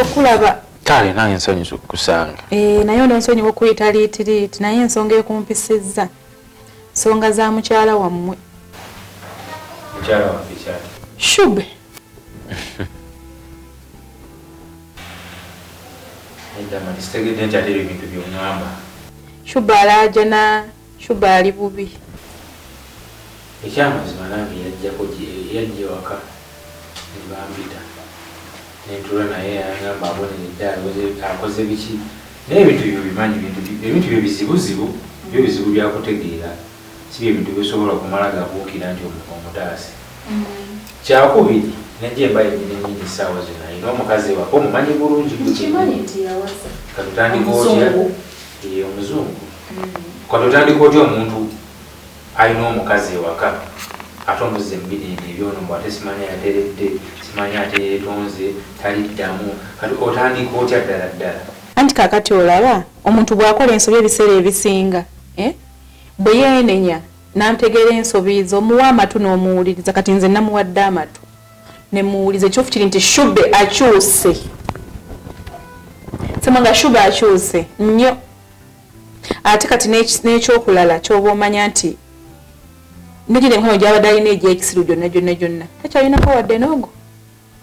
okulaba kale nange nsonyiwa okukusanga eh, naye ono nsonyiwa okuyita liitiriiti naye ensonga ekumpisizza nsonga za mukyala wammwe shube shuba alajana shuba ali bubi ekyamazima nange yajjako yajja ewaka nebampita nentuula naye yagamba aboneredde akoze biki naye ebintu byo bimanyi ebintu byo bizibuzibu byo bizibu byakutegeera si bye bintu bisobola kumala gabuukira nti omuntu omutaase. Kyakubiri, ne Jemba yennyini nnyini essaawa zino alina omukazi ewaka omumanyi bulungi ka tutandika otya ye omuzungu ka tutandika otya omuntu alina omukazi ewaka ate omuzza emubirinda ebyono mbu ate simanya yateredde simanya ate yeetonze taliddamu kati otandika otya ddala ddala anti kakati olaba omuntu bwakola ensobi ebiseera ebisinga eh? Bwe yeenenya n'antegeera ensobi ze, omuwa amatu n'omuwuliriza. Kati nze namuwadde amatu ne mmuwuliza. Ekituufu kiri nti Shube akyuse. Ssemwanga Shube akyuse nnyo. Ate kati n'ekyokulala ky'oba omanya nti ne gino emikono gy'abadde alina egy'ekisiru gyonna gyonna gyonna takyalinako wadde n'ogu.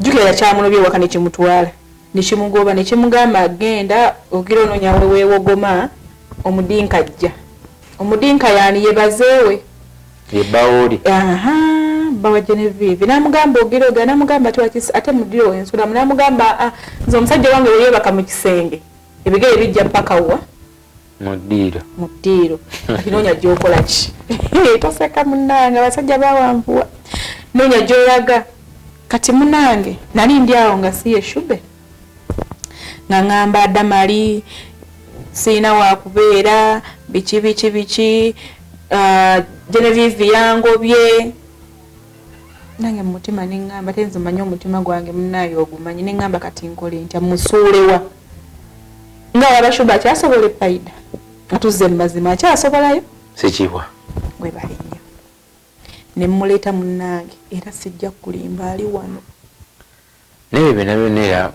Jjukira yakyamulobye ewaka ne kimutwala ne kimugoba ne kimugamba genda ogira onoonya we weewogoma omudinka ajja. Omudinka yaani ye bazeewe? Ye bbaawo lye. Ahaa bba wa Genevieve n'amugamba ogira ogera n'amugamba ati wakis ate mu ddiro we nsulamu n'amugamba aa nze omusajja wange bwe yeebaka mu kisenge ebigere bijja ppaka wa? mu ddiiro mu ddiiro kati noonya gyokola ki toseka munange abasajja bawanvuwa noonya gyolaga kati munange nali ndi awo nga siye shube nga ngamba adamali sirina wakubeera biki biki biki ah, genevive yangobye nange mumutima neŋamba te nze manyi omutima gwange munaye ogumanyi neŋamba kati nkole ntya musuulewa nga waba shuba akyasobola efaida atuzze mumazima akyasobolayo sikibwa gwebali nnyo nemuleeta munnange era sijja kulimba ali wano naye byona byona era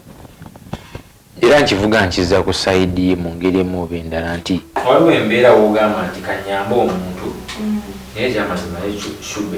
era nkivuga nkiza ku saidi mu ngeri emu oba endala nti waliwo embeera wogamba nti kanyambe omuntu mm. naye ekyamazima shuba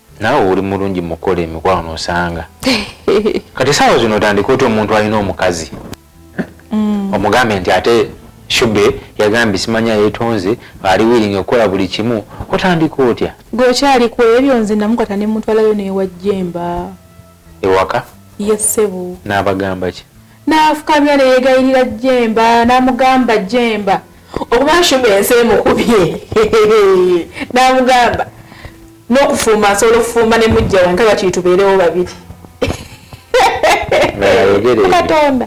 Nawe oli mulungi mukola emikwano osanga kati sawa zino otandika otya omuntu alina omukazi mm. omugambe nti ate shube yagambye simanya yetonze ali wiringa okukola buli kimu otandika otya gwe okyali ku ebyo nze namukwata ne muntu alayo newajjemba ewaka ye ssebo n'abagamba ki N'afukamira ne yeegayirira Jjemba n'amugamba, Jjemba okuba Nshumba ensi emukubye n'amugamba n'okufumba nsobola okufumba ne mujja wange kakiri tubeerewo babiri katonda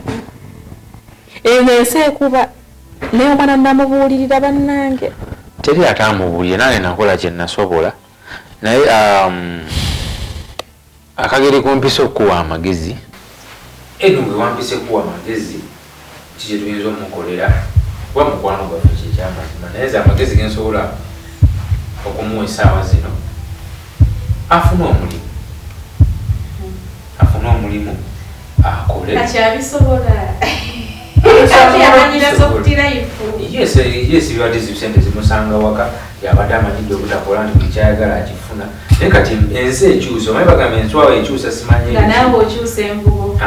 eno ensi ekuba naye omwana namubuulirira bannange teri ate amubuulire nange nakola kye nasobola naye um, Akageri kumpise okukuwa amagezi. Eno gwe wampise kuwa magezi ki kye tuyinza omukolera kuba mukwano gwaffe kye kyamazima naye nze amagezi ge nsobola okumuwa essaawa zino afune omulimu afune omulimu akole yesi bibadde zibisente zimusanga waka yabadde amanyidde obutakola nti buli kyayagala akifuna naye kati ensi ekyusa omanyi bagamba enswawo ekyusa simanyi nga nawe okyusa envubo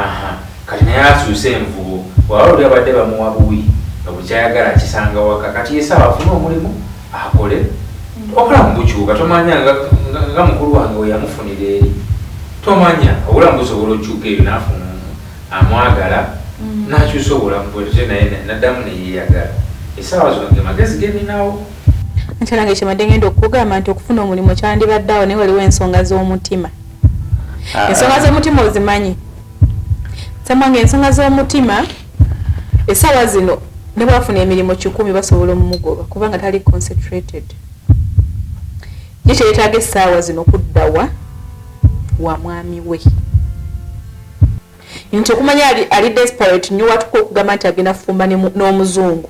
kati naye akyusa envubo waba oli abadde bamuwa buwi nga bukyayagala akisanga waka kati yesaawa afuna omulimu akole hmm. obulamu bukyuka tomanya nga mukulu wange weyamufunira eri tomanya obulamu busobola okyuka eyo nafuna amwagala hmm. nakyusa obulamu bwete naye naddamu neyeyagala esaawa zonge magezi geninawo nti nange kyebadde ngenda okukugamba nti okufuna omulimu kyandibadde awo naye waliwo ensonga z'omutima ah. ensonga z'omutima ozimanyi samwange ensonga z'omutima esawa zino ne bwafuna emirimu kikumi basobola omumugoba kubanga tali concentrated ye kyeyetaaga essaawa zino kuddawa wa mwami we nti okumanya ali desperate nyo watuka okugamba nti agenda kufumba n'omuzungu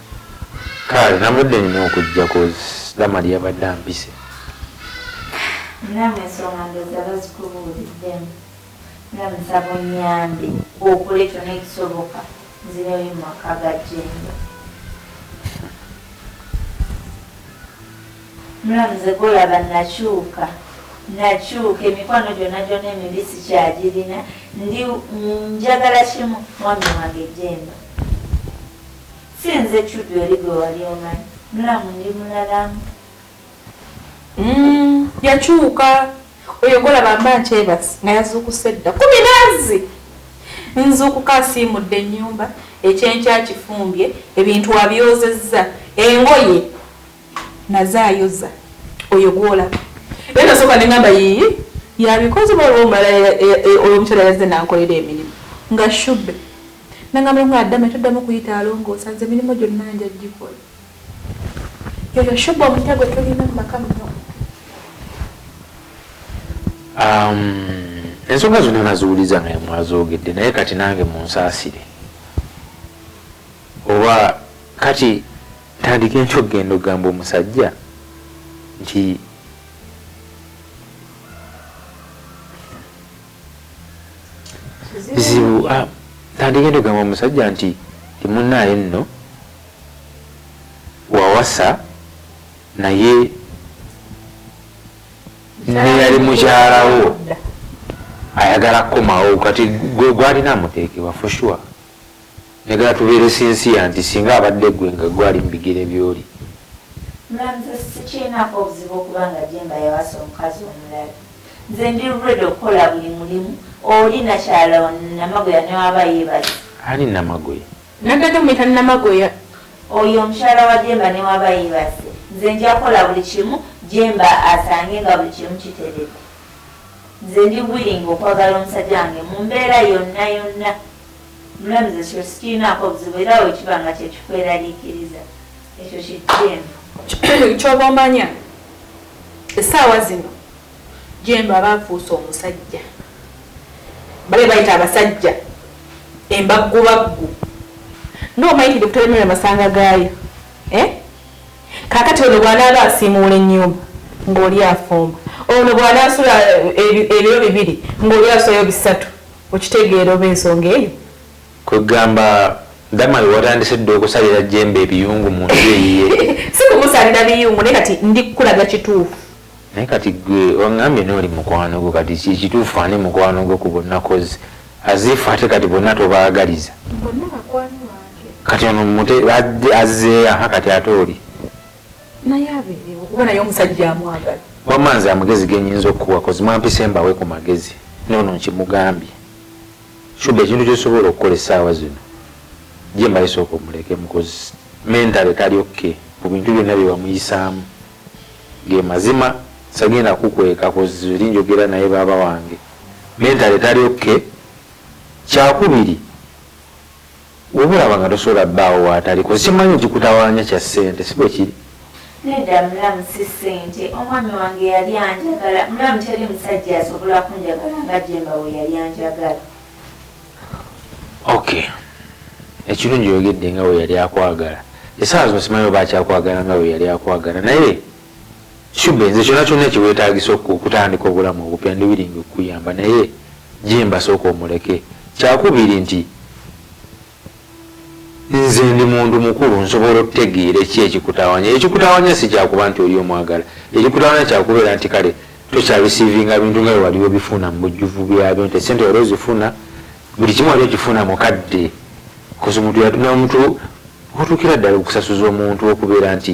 Kale nabadde nina okujja koz dama lyabadde ampise. Namwe ensonga ndoza bazikubuuliddemu nga nsaba onyambe okole kyona ekisoboka nzireyo mumaka ga jemba. Mulamuzi golaba nakyuka nakyuka emikwano gyona gyona emibi sikyagirina ndi njagala kimu mwami wange jemba. Si nze Kiddu eri gwe wali omanyi. Mulamu ndi mulalamu. Mm, yakyuka oyo golaba mba nkyebasi nga yazuukuse dda ku minaazi nzuukuka asiimudde ennyumba ekyenkya kifumbye ebintu abyozezza engoye naze ayoza oyo gwolaba era nasooka ne ngamba yiyi yabikoze baliwo omulala oyo omukyala yazze nankolera emirimu nga shube Nangamba nti nga adame toddamu kuyita alongoosa nze emirimu gyonna nja gikola. Yoyo Shuba omupya gwe tulina mu maka muno. Um, ensonga zonna naziwuliza nga mwazoogedde naye kati nange munsaasire oba kati tandika enkyo okugenda okugamba omusajja nti bizibu ah, tandigenda ogamba omusajja nti timunaaye nno wawasa naye neyali mukyalawo ayagala kukomawo kati gwalina amuteekebwa for sure Njagala tubeere sincere nti singa abadde gwe nga gwe ali mubigere byoli. Mulamuzi sikyenaku obuzibu okuba nga Jemba yawasa omukazi omulala nze ndi ready okukola buli mulimu oli nakyala namagoya newaba yebaza. Ani namagoya? Nadada omuyita namagoya. Oyo omukyala wa Jemba newaba yebase nze njakola buli kimu Jemba asange nga buli kimu kiteredde nze ndi willing okwagala omusajja wange mumbeera yonna yonna. Omulamuzi, Ekyo sikirinaako buzibu era bwe kiba nga kye kikweraliikiriza ekyo kijjemba. Ky'oba omanya essaawa zino Jjemba aba afuuse omusajja, bali be bayita abasajja embaggubaggu. Ng'omanyi nti Dokita Lemuel masanga gaayo, eh? Kaakati ono bw'anaaba asiimuula ennyumba ng'oli afumba, ono bw'anaasula eh, ebiro bibiri ng'oli asulayo bisatu, Okitegeera oba ensonga eyo? Kwegamba Damalu watandise dda okusalira Jemba ebiyungu mu nju eyiye? Si kumusalira biyungu naye kati ndi kukulaga kituufu. Naye kati gwe wangambye noli mukwano gwo kati ekituufu ani mukwano gwo ku bonna coz as if ate kati bonna tobaagaliza. Bonna bakwano bange. Kati ono mute azze aha kati ate oli. naye abeerewo kuba naye omusajja amwagala wamma nze amagezi genyinza okukuwa kozi mwampise mbawe ku magezi noono nkimugambye shuga ekintu kyosobola okukola essaawa zino gyembale sooka omuleke mukozi mentale tali okke mu bintu byonna byewamuyisaamu ge mazima sagenda kukweka kozi oli njogera naye baaba wange mentale tali okke kyakubiri Woba olaba nga tosobola bbaawo waatali kozi kyemanyi ekikutawanya kya ssente si bwe kiri? Nedda mulamu si ssente omwami wange yali anjagala mulamu teri musajja asobola kunjagala nga Jemba bwe yali anjagala. Ok ekirungi oyogedde nga bwe yali akwagala esaawa zino simanyi oba akyakwagala nga bwe yali akwagala naye Shube nze kyona kyona kyewetagisa okutandika obulamu obupya ndi willing okuyamba naye jemba soka omuleke kyakubiri nti nze ndi muntu mukulu nsobola okutegeera eki ekikutawanya ekikutawanya si kyakuba nti oli omwagala ekikutawanya kyakubeera nti kale tokyarisivinga bintu nga wewali webifuna mu bujjuvu byabyo nti esente wali ozifuna buli kimu wali okifuna mukadde kozi omuntu nomuntu otuukira ddala okusasuza omuntu okubeera nti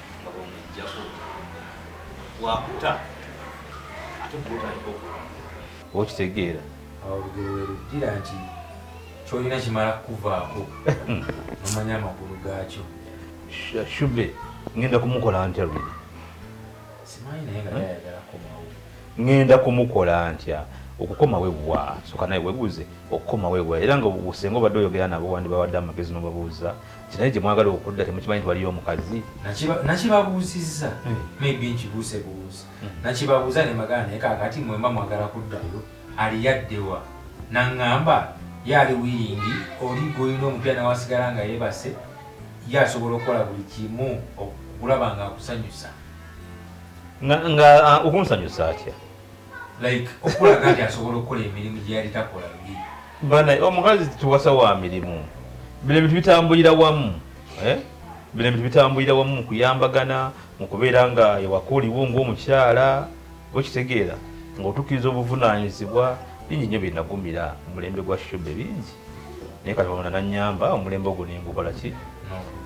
nga bwemujjako wakuta ate kuotandika okulonda okitegeera awo olugero werujjira nti kyolina kimala kukuvaako nomanya amakulu gaakyo shube ngenda kumukola ntya lwe simanyi naye nga yayagala komawo ngenda kumukola ntya okukoma webwa soka naye webuuze okukoma webwa era nga obusenga obadde oyogera nabo wandibawade amagezi nobabuuza kinaye gyemwagala okudda temukimanyi nti waliyo omukazi nakibabuuzizza eh. maybe nkibuuse buuzi hmm. nakibabuuza ne magana naye kakati mwemba mwagala kuddayo aliyaddewa naŋŋamba ye ali wiringi oli gwolina omupya nawasigala nga yebase ye asobola okukola buli kimu okulaba nga akusanyusa nga ah, okunsanyusa atya like okulaga nti asobola okukola emirimu gyeyali takola Banaye omukazi tuwasa wa mirimu, bino ebintu bitambulira wamu eh? bino ebintu bitambulira wamu mu kuyambagana, mu kubeera nga ewaka oliwo ng'omukyala okitegeera ng'otukkiriza obuvunaanyizibwa bingi nnyo bye nagumira mulembe gwa shube bingi naye kati wamana nanyamba omulembe ogwo nengukola ki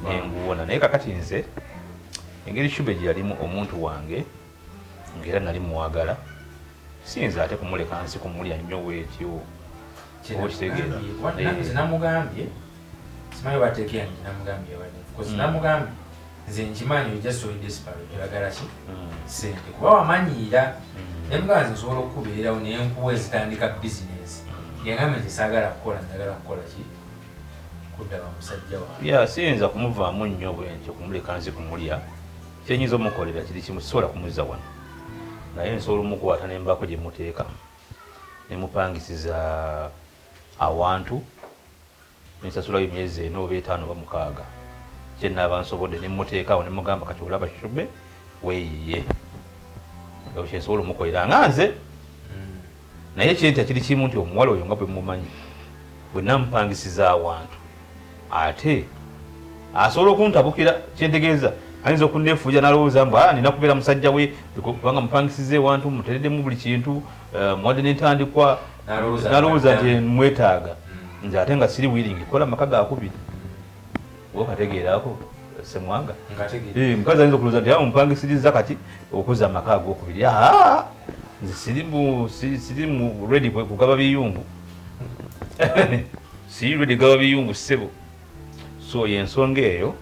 nenguwona naye kakati nze engeri shube gye yalimu omuntu wange ngera nali muwagala siyinza ate kumuleka nsi kumulya nnyo bwetyo okitegeenamugambye simanyi batekeya nti namugambye mm. namugambye nze nkimanyi ojasoidesparagala ki mm. sente kuba wamanyiira mm. nemugamba nze nsobola okukubeerawo naye nkuwa ezitandika bizinesi yagambye nti saagala kukola njagala kukola ki kudda bamusajja wa siyinza kumuvaamu nnyo bwentyo kumuleka nsi kumulya kyenyinza omukolera kiri kimu sisobola kumuzza wano naye nsobola omukwata nembako gye muteeka nemupangisiza awantu nensasulayo emyezi ena oba etaano oba mukaaga kyenaaba nsobodde nemuteekaawo nemugamba kati olaba shube weyiye ekyo kyensobola omukolera nga nze Naye eky'enkya kiri kimu nti omuwala oyo nga bwe mmumanyi, bwe nnamupangisiza awantu ate asobola okuntabukira. Kye ntegeeza, ayinza okunneefuulira n'alowooza mbu, ah, nnina kubeera musajja we kubanga mmupangisizza ewantu, mmuteereddemu buli kintu, eh, mmuwadde n'entandikwa, n'alowooza nti mmwetaaga, nze ate nga siri wiiringi kukola maka ga kubiri. okategeera ako semwanga eh, mukazi ayinza okulooza nti awo mupangisirizza kati okuza amaka agokubiri nze siri mu redi kugaba biyungu siri redi gaba biyungu ssebo so yensonga eyo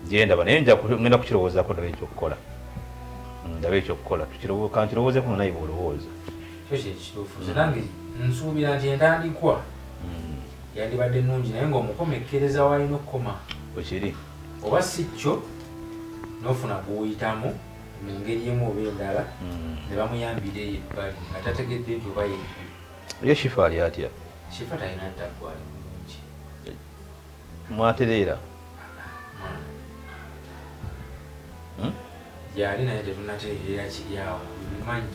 gyendaba naye ngenda kukirowoozako ndaba ekyokukola mm, ndaba ekyokukola kankirowoozeko naye bwolowooza nange nsuubira nti entandikwa mm. yandibadde nungi naye nga omukomekkereza waalina okukoma wekiri oba si kyo nofuna gwuyitamu mu ngeri emu oba endala hmm. ne bamuyambira eyo ebbali nga tategedde nti oba ye ye shifa ali atya shifa talina ttaggwali bulungi mwatereera hmm? gyali naye tetunatereera kiri awo bimanyi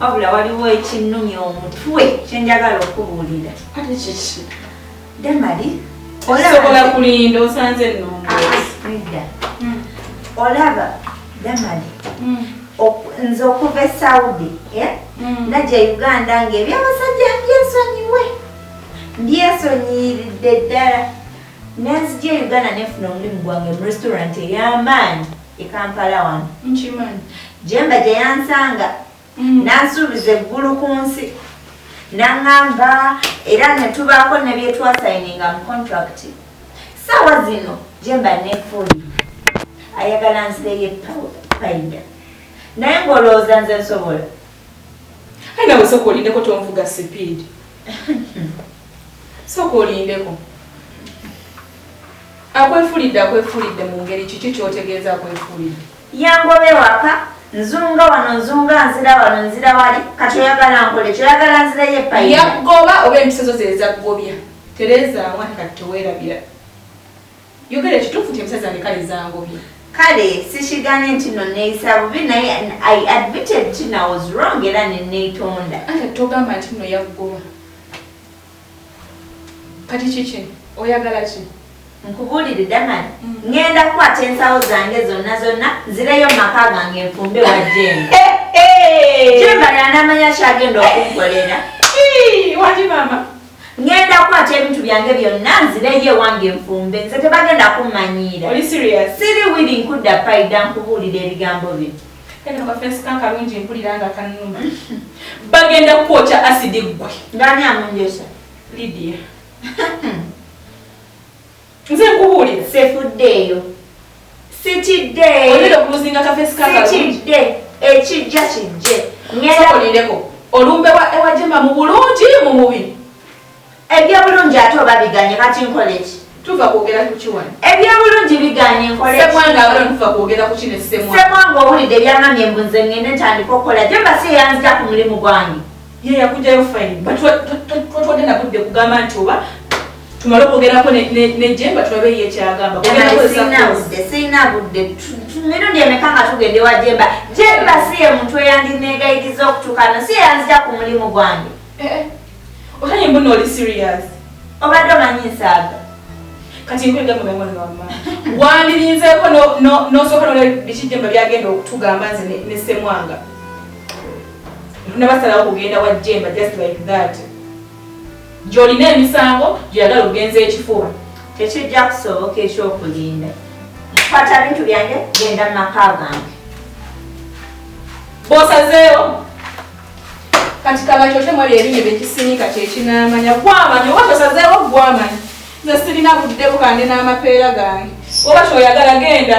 wabula waliwo ekinnumya omutwe kyenjagala okubuulira damali osobola kulinda osanze noneda ah, hmm. olaba damali hmm. nze okuva e saudi eh? hmm. naja uganda ngaebyabasajja ndyensonyiwe ndyesonyiyiridde ddala nenzija e uganda nefuna omulimu gwange mu restaurant ey'amaanyi e kampala wano nkimanyi jemba gye yansanga mm. nansuubiza eggulu ku nsi naŋŋamba era ne tubaako ne bye twasayininga mu contract saawa zino jemba nefuli ayagala nzireye payida naye ng'olowooza nze nsobola Ayi nawe sooka olindeko tonvuga sipiidi. Sooka olindeko. Akwefulidde akwefulidde mu ngeri kiki kyotegeeza akwefulidde? Yangoba ewaka nzunga wano nzunga nzira wano nzira wali kati oyagala nkole kyoyagala nzireyo epayi. Yakugoba oba empiso zo zezakugobya. Tereza awani kati tewerabira. Yogera ekituufu kye musezi wange kale zangobye. Kale sikiganye nti no neeyisa bubi naye I admitted nti na was wrong era ne neetonda. Ate togamba nti no yakugoba. Kati kiki oyagala ki? Nkubuulire Daman, mm. ngenda kukwata ensawo zange zonna zonna nzireyo mu maka gange nfumbe wa Jemba. Jemba y'anaamanya kyagenda okunkolera. Waki maama. ngenda kukwata ebintu byange byonna nzireyo ewange nfumbe nze tebagenda kummanyiira siri wiri nkudda paida nkubuulira ebigambo bino kafensikankalungi mpulira nga kanuma bagenda kukwokya asidi ggwe ngani amunjesa lidia Nze nkubuulira. Sefuddeeyo. Sitidde. Olina okuluzinga kafeesi ka kalungi. Sitidde. Ekijja kijje. Sokolireko. Olumbe wa ewa Jema mu bulungi mu mubi. Eby'obulungi ate oba biganye kati nkole ki? Tuva kwogera ku kiwani. Eby'obulungi biganye nkole ki? Semwanga abalo tuva kwogera ku kino semwanga. Semwanga owulidde ebyamamye mbu nze ngende ntandika okukola. Jema si eyanzita ku mulimu gwange. ye yakujayo fine but twatwadde nabudde kugamba nti oba tumale okwogerako nejemba tulabe ye kyagamba sirina budde mirundi emeka nga tugende wa jemba jemba si ye muntu eyandinegayiriza okutukano si yeyanzija ku mulimu gwange eh, eh. otanye mbuna oli serious obadde omanyi nsaaga kati nkwegamamamanama wandirinzeeko nosooka nolabiki jemba byagenda okutugamba nze nesemwanga nabasalawo kugenda wa jemba just like that gyolina emisango gyeyagala okugenza ekifuba tekijja kusoboka ekyokulinda kwata bintu byange genda mu maka gange bosazeewo kati kabakyokye mwali ebinyo byekisinika kyekinamanya gwamanya oba tosazeewo gwamanya nze sirina budde bukande n'amapeera gange oba kyoyagala genda